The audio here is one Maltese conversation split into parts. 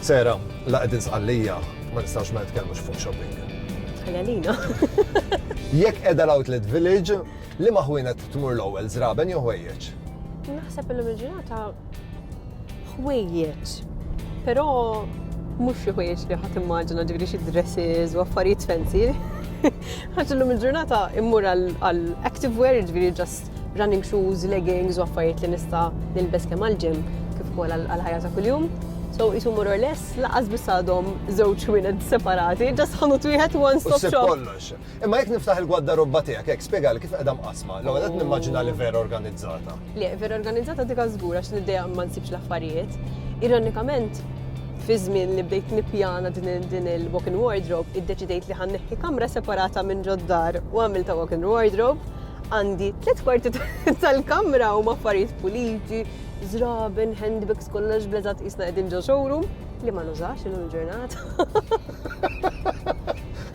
Sera, la qegħdin sqallija, ma nistax ma nitkellmux fuq shopping. Ħaljalina. Jekk qiegħda l-outlet village, li maħwina tmur l-ewwel żraben jew ħwejjeġ? Naħseb illum il-ġurnata ħwejjeġ. Però mhux xi ħwejjeġ li ħadd immaġina ġifieri xi dresses u affarijiet fancy. Għax illum il-ġurnata immur għal active wear ġifieri ġast running shoes, leggings u affarijiet li nista' nilbes kemm għal-ġim kif ukoll għal-ħajja ta' kuljum. So jisu more or less, laqas biss għadhom żewġ wienet separati, ġas ħanut wieħed one stop shop. Imma jekk niftaħ il-gwaddarobba tiegħek hekk, spjegali kif qiegħda mqassma. L-ewwel qed nimmaġina li vera organizzata. Le, vera organizzata dik żgur għax l-idea ma nsibx l-affarijiet. Ironikament, fi żmien li bdejt nippjana din il-walk-in wardrobe, iddeċidejt li ħanneħħi kamra separata minn ġoddar u għamilta walk-in wardrobe għandi tliet kwarti tal-kamra u maffarijiet puliti, zraben, handbags kollox blezat isna qegħdin ġo showroom li ma nużax illum il-ġurnata.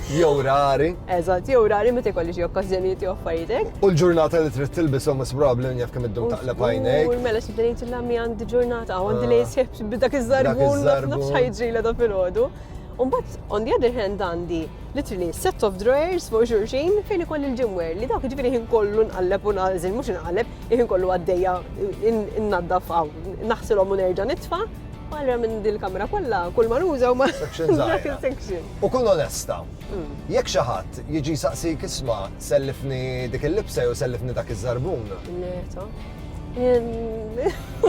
Jew rari. Eżatt, jew rari meta jkolli xi okkażjonijiet jew affarijiet U l-ġurnata li trid tilbishom is probabbli jaf kemm iddum taqleb għajnejk. U mela xibda ngħid l-għammi għandi ġurnata u għandi ah. lejs xejf b'dak iż-żarbun nafx ħajġrila da filgħodu. Umbat, on the other hand, għandi literally set of drawers fuq xurxin fejn ikoll il-ġimwer li dawk ġifiri ħin kollu nqalleb u naqżil, mux nqalleb, ħin kollu għaddeja n-naddaf għaw, naħsilom u nerġa nitfa. Barra minn din il-kamra kollha, kull ma nuża huma Section dak żgħira. il-section. U kun onesta. Jekk xi ħadd jiġi jsaqsik isma' sellifni dik il-libsa jew sellifni dak iż-żarbun. Le, ta. Em,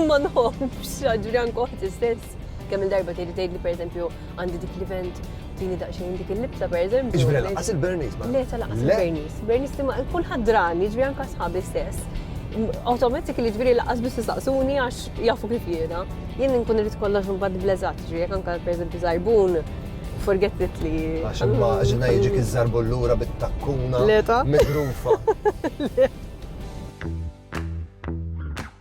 Ma nħobbx, ġifieri anke oħti stess. Kemm-il darba tgħidli tgħidli pereżempju għandi dik l-event tini daqxejn dik il-libsa per eżempju. Ġbri laqas il-Bernis ma. Le, laqas il-Bernis. Bernis li ma kull ħadran, ġbri anka sħabi stess. Automatik li ġbri laqas biss saqsuni għax jafu kif jena. Jien nkun rrit kollox mbad blezat, ġbri jek anka per eżempju zarbun, forget it li. Għax ma ġina jġi kizzarbu l-lura bit-takkuna. Leta. Midrufa.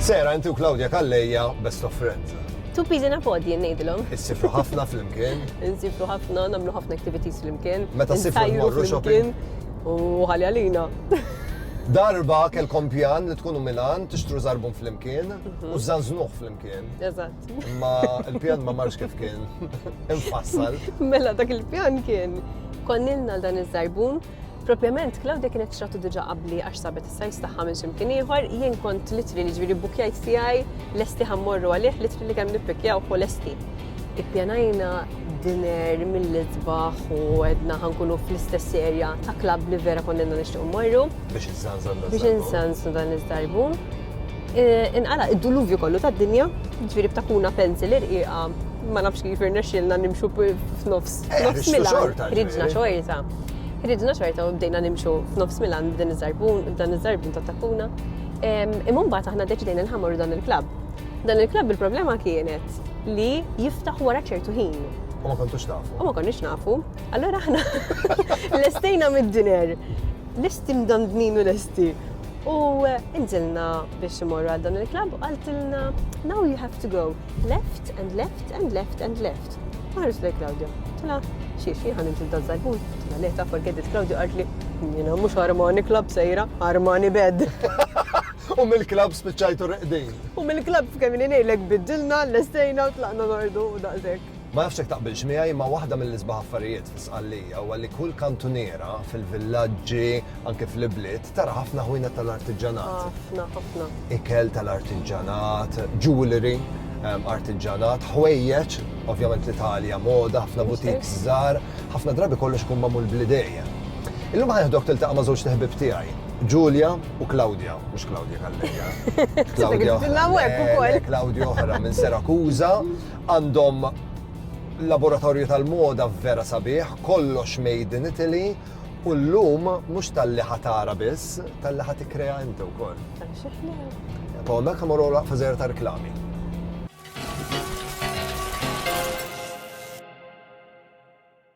Sera inti u Claudia Kalleja best of friends. Two peas in a pod jien ngħidilhom. Issifru ħafna flimkien. Insifru ħafna, nagħmlu ħafna activities flimkien. Meta ssifru Insajru mmorru shopping. flimkien U ħalli għalina. Darba kelkom pjan li tkunu Milan, tixtru zarbun flimkien Mhm. u zanznuħ flimkien. Eżatt. Imma il-pjan ma marx kif kien. Infassal. Mela dak il-pjan kien konnilna dan iż-żarbun Propjament, Claudia kienet xratu diġa qabli għax sabet is-sajs tagħha minn ximkien ieħor, jien kont litri li ġviri bukjajt tiegħi lesti ħammorru għalih litri li kemm nippikjaw u lesti. Ippjanajna dinner mill-itbaħ u għedna ħankunu fl-istess erja ta' klab li vera konnenna nixtiequ morru. Biex nżanżan Biex nżanżan dan iż-żarbu. E, inqala id-duluvju kollu tad-dinja, ġviri b'takuna pencil irqiqa ma nafx kif irnexxilna nimxu f'nofs. Eh, nofs mila, ridna xorta. Ridna xorta u bdejna nimxu f'nofs Milan b'din iż-żarbun, b'dan iż-żarbun ta' tappuna. Imma mbagħad aħna deċidejna nħamru dan il-klabb. Dan il-klabb il-problema kienet li jiftaħ wara ċertu ħin. U ma kontux nafu. U ma konniex nafu. Allora aħna lestejna mid-diner. Lesti mdandnin u lesti. U inżilna biex imorru għal dan il-klabb u għaltilna, now you have to go. Left and left and left and left. Ħares lej Claudio. Tila, xiex jien ħan nimxi dal zarbun. Tila, le ta' forget it Claudio għartli. Jina mux Armani Club sejra, Armani Bed. U mill-klab spiċċajtu reqdin. U mill-klab f'kemm li nejlek biddilna, l-estejna u tlaqna nordu u daqsek. Ma nafx jekk taqbilx miegħi imma waħda mill-isbaħ affarijiet fi Sqallija huwa li kull kantuniera fil-villaġġi anke fl-ibliet tara ħafna ħwienet tal-artiġġanat. Ħafna, ħafna. Ikel tal-artiġġanat, jewellery, artiġġanat, ħwejjeġ, ovvjament l-Italja moda, ħafna butik żgħar, ħafna drabi kollox ikun magħmul bl-idejja. Illum ħanieħdok tiltaqa' ma' żewġ teħbib tiegħi, Ġulja u Claudia, mhux Claudia Kalleja. Claudia. Claudia oħra minn Serakuża. Għandhom laboratorju tal-moda vera sabiħ, kollox made in Italy, u llum mhux talli ħa tara biss, talli ħa tikkrea inti wkoll. Paul Nakamura laqfa żgħir ta' reklami.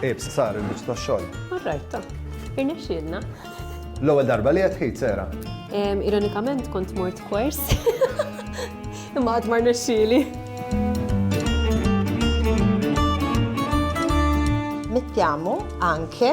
Ibs, sar il-biċ ta' xogħol. Alright, ta. Irnexxielna. L-ewwel darba li qed ħid sera. Ironikament kont mort kwers. Imma għad mar nexxieli. Mittiamu anke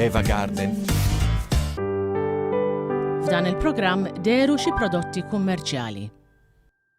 Eva Garden. F'dan il-programm deru xi prodotti kummerċjali.